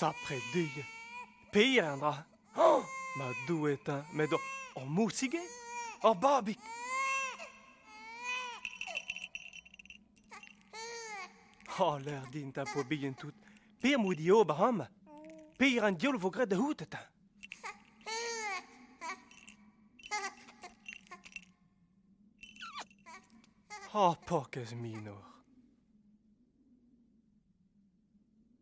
Sapre Doue, pir an dra. Ma Doue teñ, met ur mousige? Ur babig? Oh, ler din ta po bihan tout, Pe'm boa diober amañ? Pevar an diaoul vo graet da c'hoût eta. Oh, pokez minor.